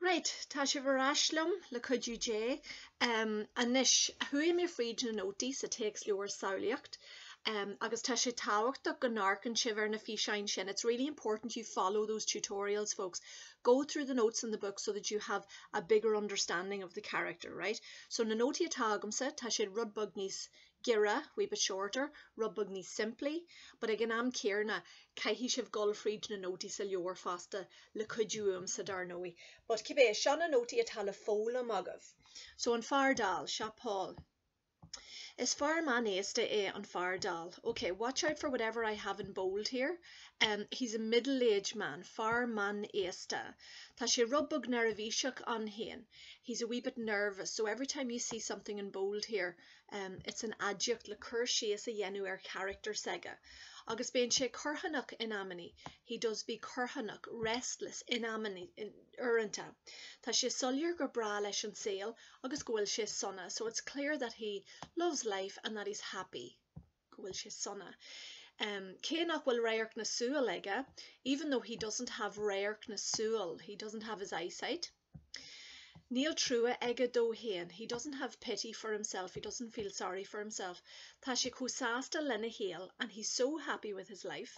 Raight, tá sibh ar ais liom, le cuidiú Dé. Anois, chuaigh mé fríd na nótaí sa téacsleabhar Samhlaíocht, agus tá sé tábhachtach go n-amharcann sibh ar na físeáin sin, it's really important you follow those tutorials, folks. Go through the notes in the book so that you have a bigger understanding of the character, right. So, na nótaí atá agamsa, tá siad rud beag níos, giorra, wee bit shorter, rud beag níos simplí, but ag an am céarna, caithfidh sibh dul fríd na nótaí sa leabhar fosta, le cuidiú uaimsa dar ndóigh, but cibé, seo na nótaí atá le foghlaim agaibh. So, an fear dall, seo Paul. Is fear meánaosta é an fear dall. Ok, watch out for whatever I have in bold here, em, he's a middle-aged man, fear meánaosta. Tá sé rud beag neirbhíseach ann féin, he's a wee bit nervous, so every time you see something in bold here, em, it's an aidiacht le cur síos a dhéanamh ar charachtar s'aige agus bíonn sé corrthónach in amannaí, he does be corrthónach, restless, in amannaí, uaireanta. Tá sé soiléir gur breá leis an saol agus go bhfuil sé sona, so it's clear that he loves life and that he's happy. go bhfuil sé sona, cé nach bhfuil radharc na súl aige even though he doesn't have radharc na súl, he doesn't have his eyesight níl trua aige dó féin, he doesn't have pity for himself, he doesn't feel sorry for himself tá sé chomh sásta lena shaol and he's so happy with his life.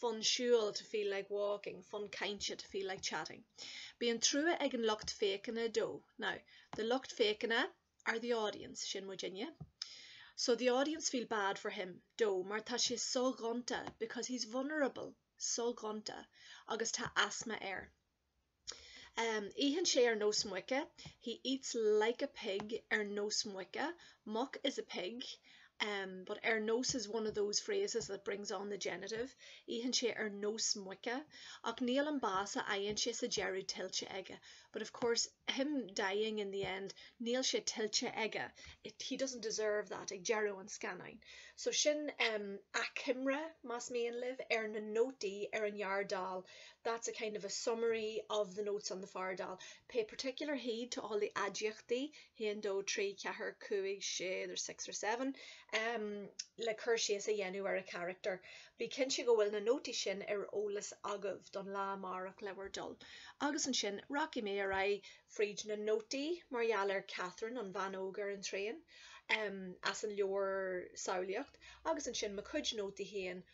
fonn siúil, to feel like walking, fonn cainte, to feel like chatting. Bíonn trua ag an lucht féachana dó, now, the lucht féachana are the audience, sin muidinne, so the audience feel bad for him, dó, mar tá sé soghonta, because he's vulnerable, soghonta, agus tá asma air. Itheann sé ar nós muice, he eats like a pig. Ar nós muice, muc is a pig, but ar nós is one of those phrases that brings on the genitive. Itheann sé ar nós muice, ach níl an bás a fhaigheann sé sa deireadh tuillte aige, but of course him dying in the end, níl sé tuillte aige, he doesn't deserve that, ag deireadh an scannáin. So sin achoimre, más mian libh, ar na nótaí ar an fhear dall that's a kind of a summary of the notes on the fear dall. Pay particular heed to all the aidiachtaí, haon, dó, trí, ceathair, cúig, sé, there's six or seven, um le cur síos a dhéanamh ar a charachtar. Bí cinnte go bhfuil na nótaí sin ar eolas agaibh don lá amárach le bhur dtoil. Agus ansin, rachaidh mé ar aghaidh fríd na nótaí mar gheall ar Catherine, an bhean óg ar an traein, um as an leabhar Samhlaíocht, agus ansin mo chuid nótaí féin